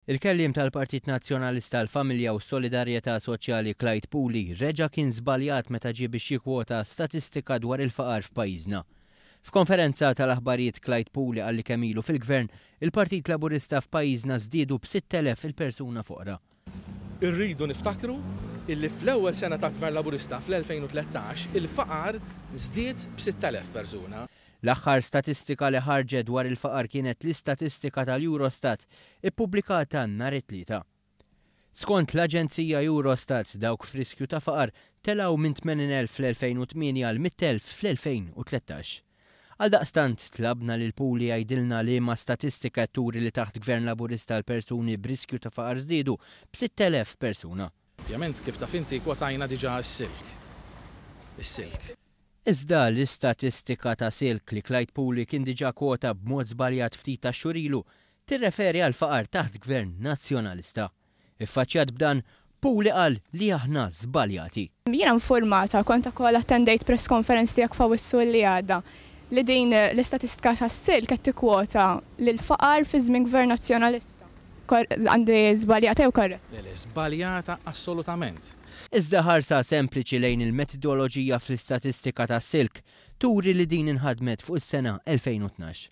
Il-kelliem tal-Partit Nazzjonalista għall-Familja u s-Solidarjetà Soċjali Clyde Puli reġa' kien żbaljat meta ġie biex jikkwota statistika dwar il-faqar f'pajjiżna. F'konferenza tal-aħbarijiet Clyde Puli qal li kemm ilu fil-Gvern, il-Partit Laburista f'pajjiżna żdiedu b' 6,000 il-persuna foqra. Irridu niftakru illi fl-ewwel sena ta' Gvern Laburista fl-2013 il-faqar żdied b'sitt elef persuna. L-aħħar statistika li ħarġet dwar il-faqar kienet l-istatistika tal-Eurostat ippubblikata nhar it-Tlieta. Skont l-aġenzija Eurostat dawk f'riskju ta' faqar telgħu minn 80,000 fl-2008 għal 100,000 fl-2013. Għaldaqstant, tlabna lil Puli jgħidilna liema statistika qed turi li taħt Gvern Laburista l-persuni b'riskju ta' faqar żdiedu b'sitt elef persuna. Ovvjament, kif taf inti, kwotajna diġà s-silk. Is-silk. Iżda l-istatistika ta' silk li Clyde Puli kien diġà kwota b'mod żbaljat ftit tax-xhur ilu tirreferi għall-faqar taħt Gvern Nazzjonalista. Iffaċċjat b'dan, Puli qal li aħna żbaljati. Jiena infurmata, kont ukoll attendejt press conference tiegħek f'Awwissu li għadda, li din l-istatistika tas-silk qed tikkwota l-faqar fi żmien Gvern Nazzjonalista. Għandi żbaljata jew korretta? Le le, żbaljata assolutament. Iżda ħarsa sempliċi lejn il-metidoloġija fl-istatistika tas-silk turi li din inħadmet fuq is-sena 2012.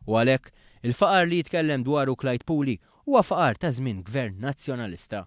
U għalhekk, il-faqar li jitkellem dwaru Clyde Puli huwa faqar ta' żmien Gvern Nazzjonalista.